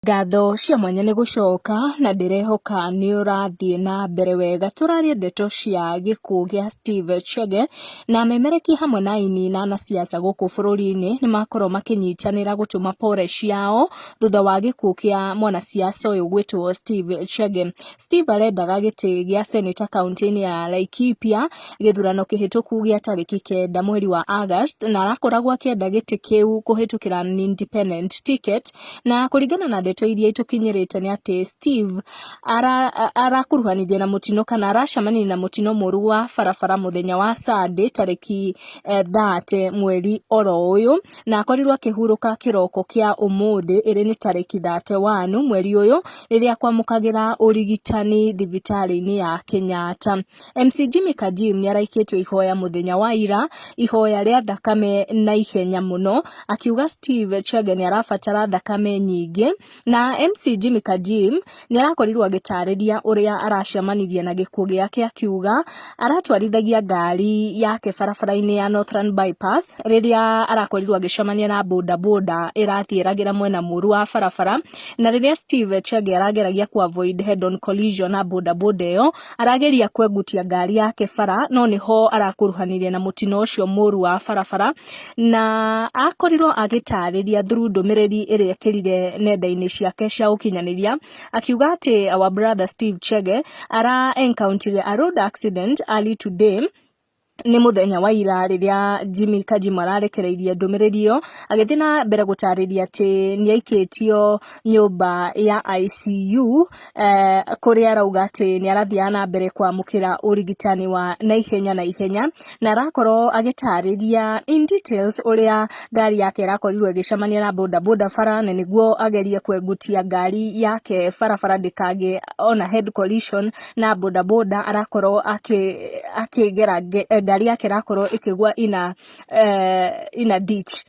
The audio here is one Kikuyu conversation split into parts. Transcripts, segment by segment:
Ngatho cia mwanya nĩ gũcoka na ndĩrehoka nĩ ũrathiĩ na mbere wega. Tũraria ndeto cia gĩkuũ gĩa Steve Chege na memereki hamwe na aini na anasiasa gũkũ bũrũri-inĩ nĩ makorwo makĩnyitanĩra gũtũma pore ciao thutha wa gĩkuũ kĩa mwanasiasa ũyũ gwĩtwo Steve Chege. Steve arendaga gĩtĩ gĩa seneta kauntĩ-inĩ ya Laikipia. gĩthurano kĩhĩtũku gĩa tarĩki kenda mweri wa August na arakoragwo akĩenda gĩtĩ kĩu kũhĩtũkĩra independent ticket na kũringana na ndeto iria itũkinyĩrĩte nĩ atĩ Steve arakuruhanithio na mũtino kana aracemania na mũtino mũru wa barabara mũthenya wa Sunday tarĩki 30 eh, mweri oro ũyũ na akorirwo akĩhurũka kĩroko kĩa ũmũthĩ ĩrĩ nĩ tarĩki 31 mweri ũyũ rĩrĩa kwamũkagĩra ũrigitani thibitarĩ-inĩ ya Kenyatta. MC Jimmy Kajim nĩ araikĩtie ihoya mũthenya wa ira ihoya rĩa thakame na ihenya mũno akiuga Steve Chege nĩ arabatara thakame nyingĩ Na MC Jimmy Kajim nĩ arakorirwo agĩtarĩria ũrĩa aracemanirie na gĩkuũ gĩake akiuga aratwarithagia ngari yake barabara-inĩ ya Northern Bypass rĩrĩa arakorirwo agĩcemania na boda boda ĩrathiĩ ĩragĩra mwena mũru wa barabara na rĩrĩa Steve Chege arageragia ku avoid head on collision na boda boda ĩyo arageria kwengutia ngari yake bara no nĩho arakuruhanirie na mũtino ũcio mũru wa barabara na akorirwo agĩtarĩria through ndũmĩrĩri ĩrĩa ekĩrire nenda-inĩ ciake cia ũkinyanĩria akiuga atĩ our brother Steve Chege ara encountered a road accident early today nĩ mũthenya wa ira rĩrĩa Jimmy Kajima ararekereirie ndũmĩrĩri ĩyo agĩthiĩ na mbere gũtarĩria atĩ nĩ aikĩtio nyũmba ya ICU eh, kũrĩa arauga atĩ nĩ arathiaga na mbere kwamũkĩra ũrigitani wa naihenya na ihenya na arakorwo agĩtarĩria in details ũrĩa ngari yake ĩrakorirwo ĩgĩcemania na bodaboda bara na nĩguo agerie kwengutia ngari yake barabara ndĩkagĩe ona head collision na bodaboda arakorwo akĩgera ngari yake ĩrakorwo ĩkĩgwa ina, eh, ina ditch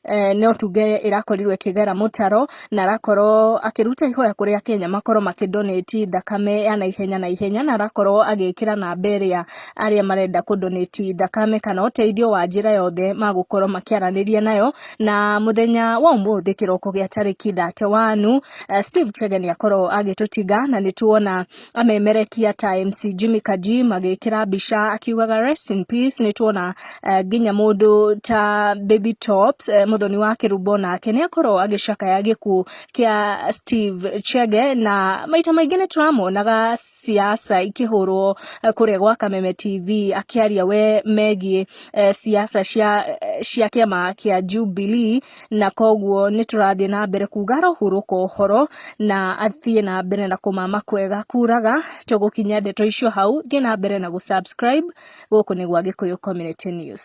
Eh, no tuge ĩrakorirwo ĩkĩgera mũtaro na arakorwo akĩruta ihoya kũrĩ akenya makorwo makĩndonĩti thakame ya naihenya na ihenya na arakorwo agĩkĩra namba ĩrĩa arĩa marenda kũndonĩti thakame kana ũteithio wa njĩra yothe magũkorwo makĩaranĩria nayo na mũthenya wa ũmũthĩ kĩroko gĩa tarĩki 31 eh, Steve Chege nĩ akorwo agĩtũtinga na nĩ tuona amemerekia ta MC Jimmy Kaji magĩkĩra mbica akiugaga rest in peace nĩ tuona uh, nginya mũndũ ta Baby Tops uh, mũthoni wa Kĩrumbo nake nĩ akorwo agĩcakaya gĩkuũ kĩa Steve Chege na maita maingĩ nĩ tũramonaga siasa ikĩhũrwo uh, kũrĩa gwa Kameme TV akĩaria we megiĩ uh, siasa cia, uh, cia kĩama kĩa Jubilee na koguo nĩ tũrathiĩ na mbere kuga arohurũka ũhoro na athiĩ na mbere na kũmama kwega kuraga tũgũkinya ndeto icio hau thiĩ na mbere na gũ subscribe gũkũ nĩ gwa gĩkũyũ community news